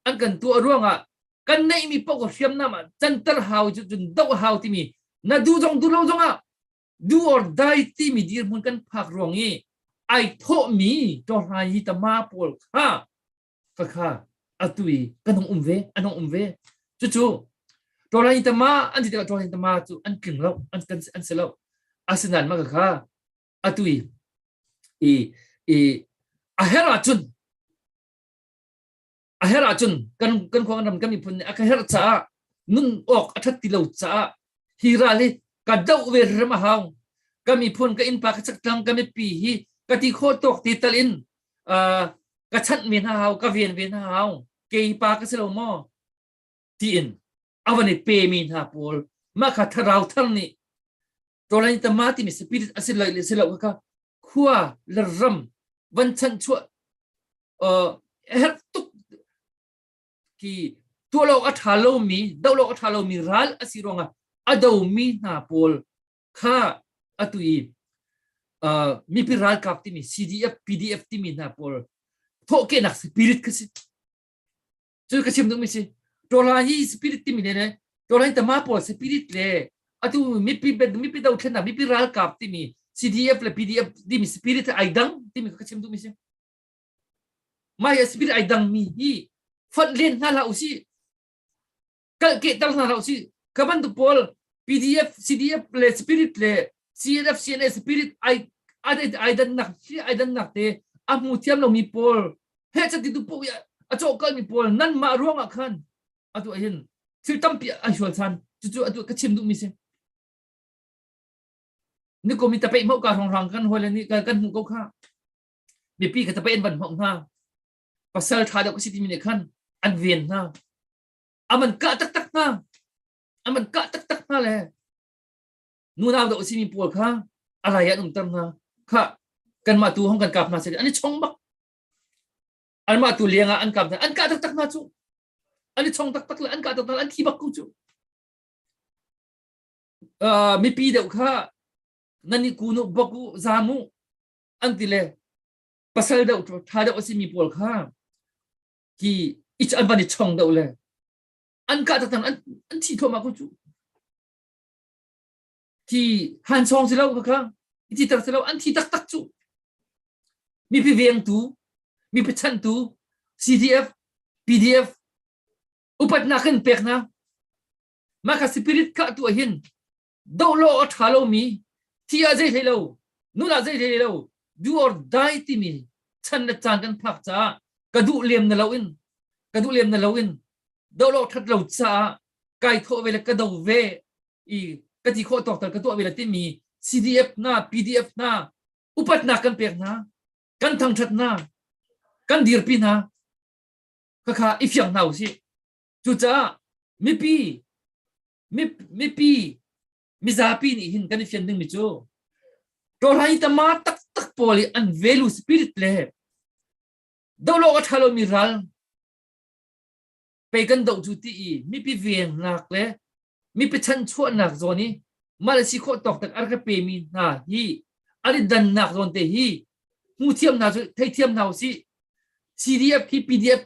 an kan tuah ruangah kan neihmi paoh hriamnam ah canter hau cu cun doh hau timi na duh zong duh lo zongah do or die timi dirhmun kan phak ruang i ai thawhmi ṭohrai hi tama pawl kha khakha atu i kan hung um ve an hung um ve cucu ṭohrai tama an ti tikah ṭohrai tama cu an tling lo an kan an si lo asinain maka kha atui i i a her ahcun a her ahcun kan kan khuang ram kan miphun nih a ka her caah nun awk a that ti lo caah hi ral hi ka doh ve rem a hau ka miphun ka innpa ka chaktlang ka mipi hi ka ti kho tawk ti tal in ka chanh men hau ka ven ven hau ke pa ka si lo maw tiin a van i pemi hna pawl mah kha thlarau thar nih tawlain tama timi spirit a si lo le si lo kha khua le ram van chan chuah uh, her tuk ki tua lo a tha lo mi do lo a tha lo mi ral a si ronga a do mi hna pawl kha atu i uh, mi pi ral kap timi CDF PDF timi hna pawl thawke nak spirit kha si cu ka chim ding mi si tola hi spirit timi le le tola hi tama pawl spirit le atu mipi mipi do thlen na mipi ralkap timi CDF le PDF timi spirit ai dang timi ka chim ding mi si mai spirit ai dang mi hi fat len na la usi kalh kehter hna hlah usih ka bantuk pawl PDF CDF le spirit le CNF CNA spirit ai ai dannak hi ai dannak te a hmu thiam lomi pawl he chatitu pu a cawhkalmi pawl nan mah ruangah khan atu ahin thil tampi a hual san cucu atu ka chim duhmi si ni komi tapei mau ka rong rang kan hole ni kan hmu ko kha mipi ka tapei an van mau hna pasal tha deuh ka si ti mi ne khan an ven hna aman kah taktak hna aman kah taktak hna le nunau da usimi pawl kha alai an umter hna kha kanmah tu hong kan kap hna sai an i chong bak anmah tu liang ah an kap hna an kah taktak hna cu an i chong taktak le an kah taktak an thi bak ku cu mipi deuh kha nani kunu boku zamu an ti le pasal deuh tha deuh asimi pawl kha ki i an van i chong deuh le an kah tatang an an thi thoma ku cu ki han song si lo kha ti tar si lo an thi tak tak cu mi pi vengtu mi pi chantu CDF PDF upat nak kan pek na maka spirit ka tu ahin doh law a ṭha lomi thi ah zei hlei lo nun ah zei hlei lo do or die timi chan le caan kan phak caah ka duh lem na loin ka duh lem na loin do law ṭhat lo caah kai thawh ve le ka do ve i ka ti khawh tawk tal ka tuah ve le timi CDF na PDF na upatnak kan pek na kan thangṭhat na kan dirpi na khakha i fiang hna u si cucaah mipi mipi mizapi nih hin kan i fian dingmi cu ṭawlhai tama taktak pawl i an velu spirit le dohlo a ṭhalomi ral pei kan doh cu ti i mipi vengnak le mipi chanchuahnak zawn i mal si khawh tawk tak ar ka pemi hna hi an i dannak zawn te hi hmu thiam hna cu thei thiam hna u si CDF hi PDF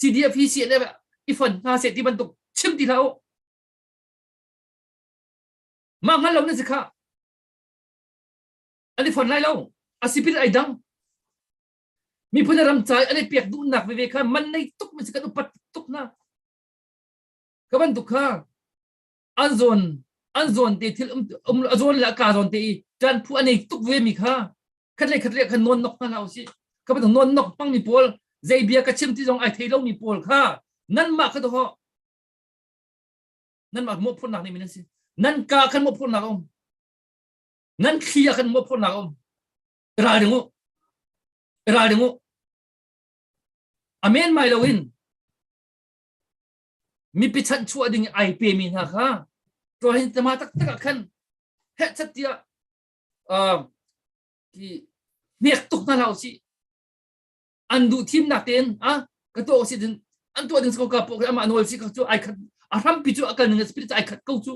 CDF hi CNF i fon hna seh ti bantuk chim ti hlah u. Mah hngal lo na si kha. An i fon lai lo. A sipin ai dang. Miphun a ram cai an i pek duhnak veve kha man nei tuk mi si kan upat tuk na. Ka bantuk kha an zawn an zawn te thil um um a zawn le a ka zawn te i ṭan phu an ei tuk ve mi kha khatle khatle khan nawn nok hna hna u si ka bang nawn nok pang mi pawl zei bia ka chim ti zong ai thei lo mi pawl kha nanmah kha to ho nanmah mo phurnak ni min an si nan ka khan mo phurnak um nan thlia khan mo phurnak um ral ding u ral ding u amen mai lo in mipi chanh chuah ding in ai pemi hna kha Rohingya taktak ah khan hehchat tiah hnek tuk hna hlah usih an duh thimnak tein a ka tuah usih cun an tuah ding ko ka pok amah nawl si ka cu ai khat a hrampi cu a kal ning spirit ai khat ko cu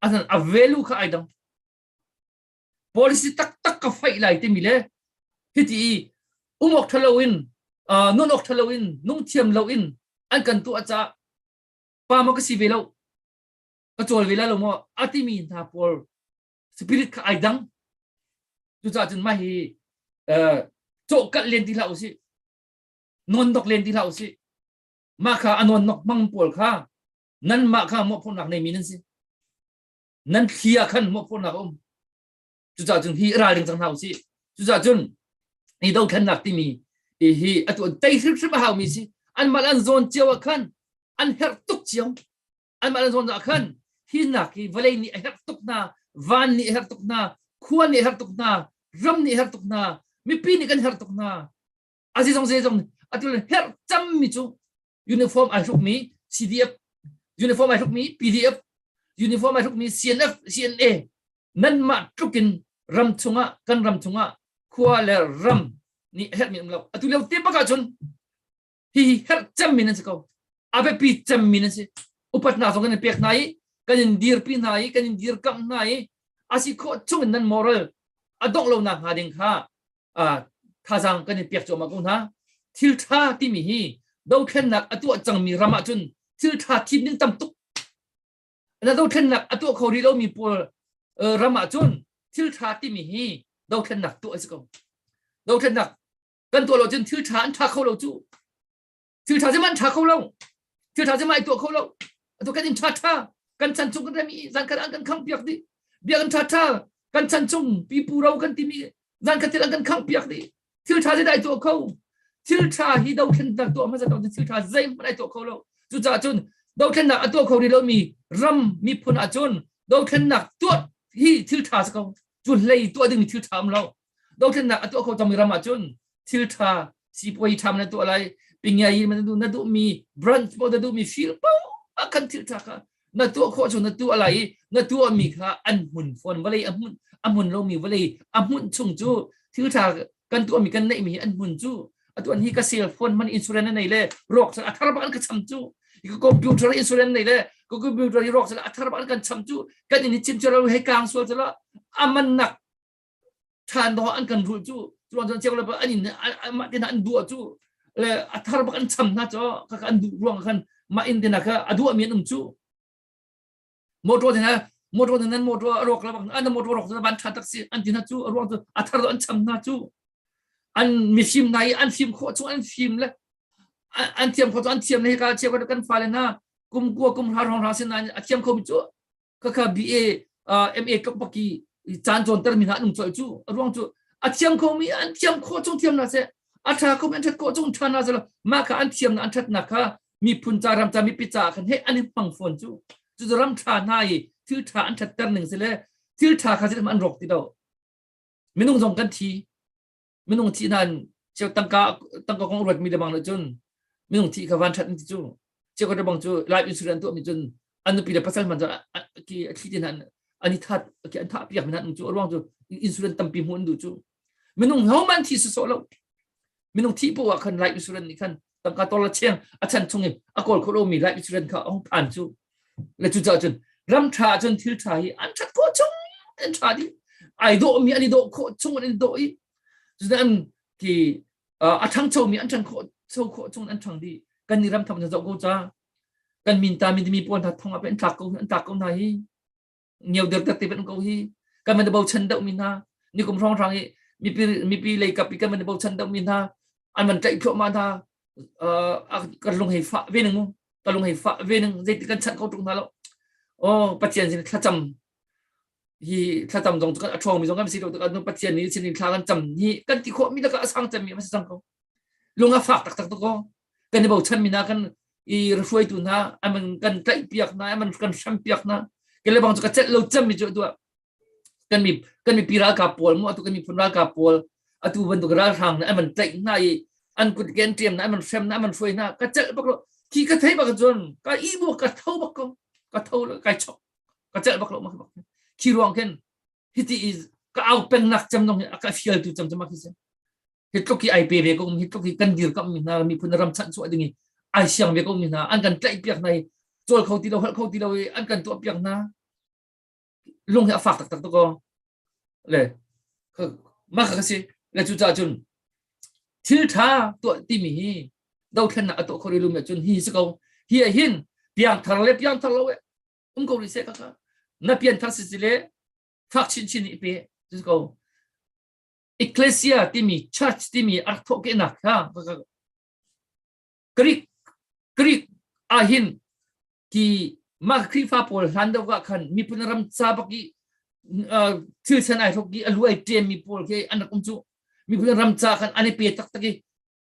a a velu kha ai dang policy taktak ka faih lai timi le hiti i um awk ṭhalo in nun awk ṭhalo in nung thiam lo in an kan tu aca pa ma ka si ve lo ka cawl ve la lo maw a timi hna pawl spirit kha ai dang cucaah cun mah hi cawhkalh len ti hlah usih non dok len ti hlah usih mah kha a non nok mang pawl kha nan mah kha mawhphurnak neimi nan si nan thli ah khan hmuh khawhnak a um cucaah cun hi ral ding cang hna usih cucaah cun hi dothlennak timi hi hi a tuan tei hrimhrim a haumi si an mal an zawn cio ah khan an herh tuk ciam an mal an zawn ah khan hi nak hi vawlei nih a herh tuk hna van nih a herh tuk hna khua nih a herh tuk hna ram nih a herh tuk hna mipi nih kan herh tuk hna a zizong zezong atu le herh cammi cu uniform ai hrukmi CDF uniform ai hrukmi PDF uniform ai hrukmi CNF CNA nan mah tlukin ram chungah kan ram chungah khua le ram nih herhmi um lo atu leo te bak ahcun hi herh cemmi nan si ko abepi cemmi nan si upat hna zong kan in pek hna i kan in dirpi hna i kan in dirkamh hna i asi khawh chungin nan moral a dongh lonak hnga ding kha thazaang kan in pek cuahmah ko hna thil ṭha timi hi dothlennak a tuah cangmi ram ah cun thil ṭha thim ding tam tuk na dothlennak a tuah kho rih lomi pawl ram ah cun thil ṭha timi hi dothlennak tuah a si ko dothlennak kan tuah lo cun thil ṭha an ṭha kho lo cu thil tha zeman tha kho lo thil tha zeman tuah kho lo atu kan in tha tha kan chan chung kan remi zan kan an kan khang piak di bia kan tha tha kan chan chung pipu ro kan timi zan khatil an kan khang piak di thil tha zai dai tuah kho thil tha hi do thlen tak tuah ma za to thil tha zai man ai tuah kho lo cu cha chun do thlen nak atuah kho ri lo mi ram mi phun a chun do thlen nak tuah hi thil tha sa ko cu hlei tuah ding thil tha am lo dothlennak a tuah kho cangmi ram ahcun thiltha sipuai tham na tuah lai pingiai in na duh na duhmi branch paoh na duhmi fil paoh a kan thiltha kha na tuah khawh cu na tuah lai i na tuahmi kha an hmun fawn vawlei a hmun a hmun lomi vawlei a hmun chung cu thiltha kan tuahmi kan neihmi hi an hmun cu atuan hi ka cell phone man insurance nei le rawk a thar ba ka cham chu ka computer insurance nei le ka computer hi rawk a thar ba kan cham chu kan in chim chero he kang sual chela aman nak than dawh an kan ruh cu cu an ceu le an in mah tin an duh cu le a thar bak an cham hna cho ka an duh ruang khan mah in tina ka a duh mi an um cu motor tina motor tina motor a rok la bak an motor rok ban tha taxi an tina cu a ruang cu a thar an cham hna cu an mi fim nai an fim kho chu an fim le an thiam kho chu an thiam ne ka che ko kan fa le na kum ku kum ha rong ra sin a thiam kho mi chu khakha BA MA kapaki caan cawnter mi hna nung choi cu ruang cu a thiam kho mi an thiam kho chung thiam na se a tha kho mi an that kho chung than na se ma kha an thiam na an that na kha mi phun ca ram ca mi pi ca khan he an i pang phone cu cu zu ram tha na i thil tha an that ter ning se le thil tha kha se an rok ti do minung zong kan thi minung thi nan cheu tangka tangka kong ruat mi le bang le cun minung thi kha van that ti cu cheu ka bang cu life insurance tu mi cun an nupi le pasal man ki thi ti nan ani that ki an tha piak min cu ruang cu insurance tampi mun du cu minung ho man thi so so lo minung thi po wa khan life insurance ni khan tangka tola chiang a chan chung in a kol kholo mi life insurance kha ong phan chu le chu cha chun ram tha chun thil tha hi an that kho chung an tha di ai do mi ani do kho chung an do i an ki a thang cho mi an thang kho cho kho chung an thang di kan ni ram tham na zo go cha kan min ta min mi pon tha thong ap an thak ko an thak ko na hi neu der ter te ban ko hi kaman de bochan dau mi na ni kum rong rang i mipi mipi lei kap i kaman de bochan dau mi na an man tlai pho ma na kan lung hei fa ve nang mu ka lung hei fa ve nang zai ti kan chan ko tung na lo o pathian sin thla cham hi thla cham dong kan athong mi zong kan si lo kan pathian ni sin thla kan cham ni kan ti kho mi da ka asang cham mi ma sang ko lunga fak tak tak to ko kan i bochanmi hna kan i hruaitu hna aman kan tlaih piak hna aman kan hrem piak hna kan le bang cu ka celh lo cemmi cu tua kan mi kan mi pi ralkap pawl mu atu kan mi phun ralkap pawl atu bantuk ralhrang na aman tlaih hna i an kut ken tiam na aman hrem na aman hruai hna ka celh bak lo ki ka thei bak cun ka i bu ka tho bak ko ka tho lo kai chok ka celh bak lo ma bak ki ruang ken hiti i ka au peng nak cem nong ka fial tu cem cem ma ki se hi tluk hi ai pe ve ko mi tluk hi kan dir kam mi hna miphun ram chanh chuah ding i ai siang ve ko mi hna an kan tlaih piak hna i col kho ti lo hal kho ti lo i an kan tuah piak hna lung hi a fak taktak to ko le mah ka si le cu ca cun thil tha tuah ti mi hi dothlan nak a to khori lum cun hi si ko hi a hin piang thar le piang thar lo um ko ri se ka na pian thar si si le fak chin chin i pe ko ecclesia timi church timi a rak thawhkehnak kha Greek Greek ahin ki mah Khrihfa pawl hlan deuh ah khan miphun ram ca bak i thil san ai thok i alu ai ṭem mi pawl khi an rak um cu miphun ram ca khan an i pe taktak i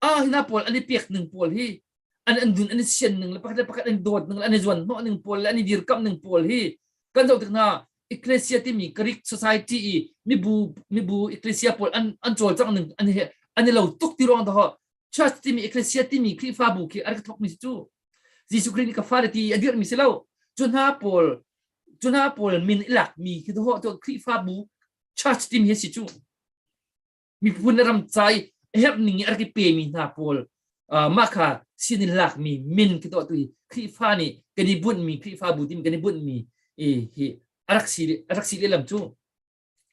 ah hina pawl an i pek ning pawl hi an an dun an i sian ning le pakhat le pakhat an dawt ning le an i zuan hnawh ning pawl le an i dirkamh ning pawl hi kan zoh tik hna ecclesia timi greek society i mibu mibu ecclesia pawl an an cawl cang ning an hi an i lo tuk ti ruang to church timi ecclesia timi khrifabu khi ar ka thok mi si chu jesu christ ni ka fare ti a dir mi si lo chu hna pawl chu hna pawl min ilak mi khi to to khrifabu church timi hi si chu miphun le ram cai herhning i a rak i pemi hna pawl mah kha sin in lakmi min ka tuah tu i Khrihfa nih kan i bunhmi Khrihfa bu tim kan i bunhmi i hi a rak si a rak si lehlam cu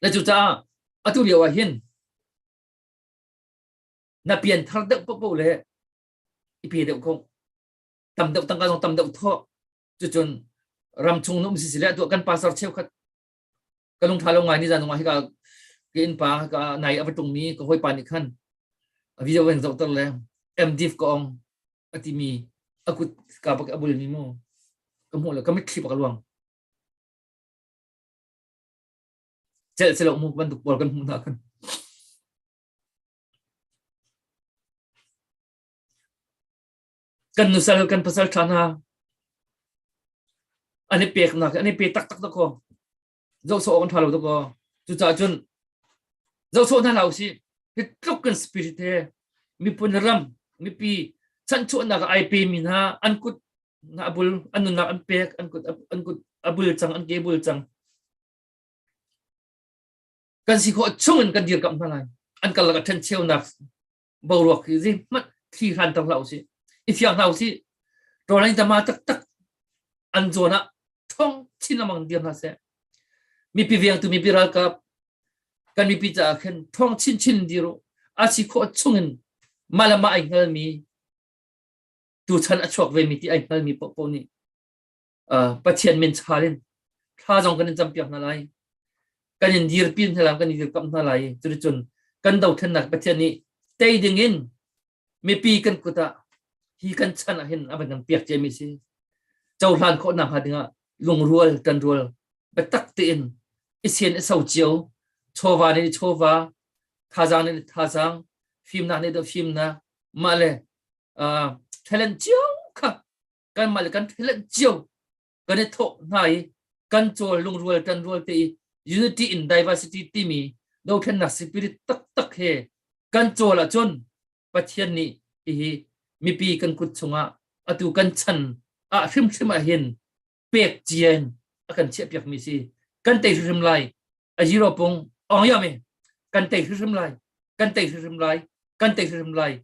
na cu caah atu lio ah hin na pian thar deuh popo le i pe deuh khong tam deuh tangka zong tam deuh thawh cucun ram chung no um si sile tuah kan pasar cheukhat ka lung tha lo ngai ni zan nungah hika ka innpa ka nai a va tung mi ka hawipa nih khan a video van zoh ter le MDiv ka ong a ti mi a kut ka pak a bul mi mu ka hmuh le ka mitthli pak luang cel celo mu bantuk pol kan hmuh na kan kan nusal kan pasal ṭha hna an i peknak an i pe taktak dakaw zohsawh awk an ṭha lo dakaw cucaah cun zohsawh hna hna usih hi tluk kan spirit he miphun ram mipi chanhchuahnak ai pemi hna an kut a bul an nunnak an pek an kut an kut a bul cang an ke bul cang kan si khawh chung in kan dir kamh hna lai an kal lak a ṭhen cheunak boruak hi zi hmat thli hran tang hlah usih i thiang hna usih ṭolai tama taktak an zuan ah thong chin amang dir hna seh mipi viangtu mipi ralkap kan mipi caah khen thong chin chin dir u a si khawh chungin malama ai hngalmi tu chan a chuak ve mi ti ai hngalmi popo nih uh, Pathian min chal in thla zong kan in campiak hna lai kan in dirpi hna lai kan in dirkamh hna lai cuticun kan dothlennak Pathian nih tei ding in mipi kan kut ah hi kan chan ah hin a van kan piak ciami si cohlan khawhnak hnga dingah lungrual kan rual biatak tein isen i so cio chawva ne chawva thazang ne thazang fimnak ne da fimna mah le uh, talent cio kha kan mal kan thlen cio kan i thawk hna i kan cawl lungrual tan rual te i unity in diversity timi dothlennak spirit taktak he kan cawl ahcun pathian nih hihi mipi kan kut chungah atu kan chan ah hrimhrim ah hin pek cien a kan chiah piak mi si kan tei hrimhrim lai aziro pung ong yam e kan tei hrim lai kan tei hrim lai kan tei hrim lai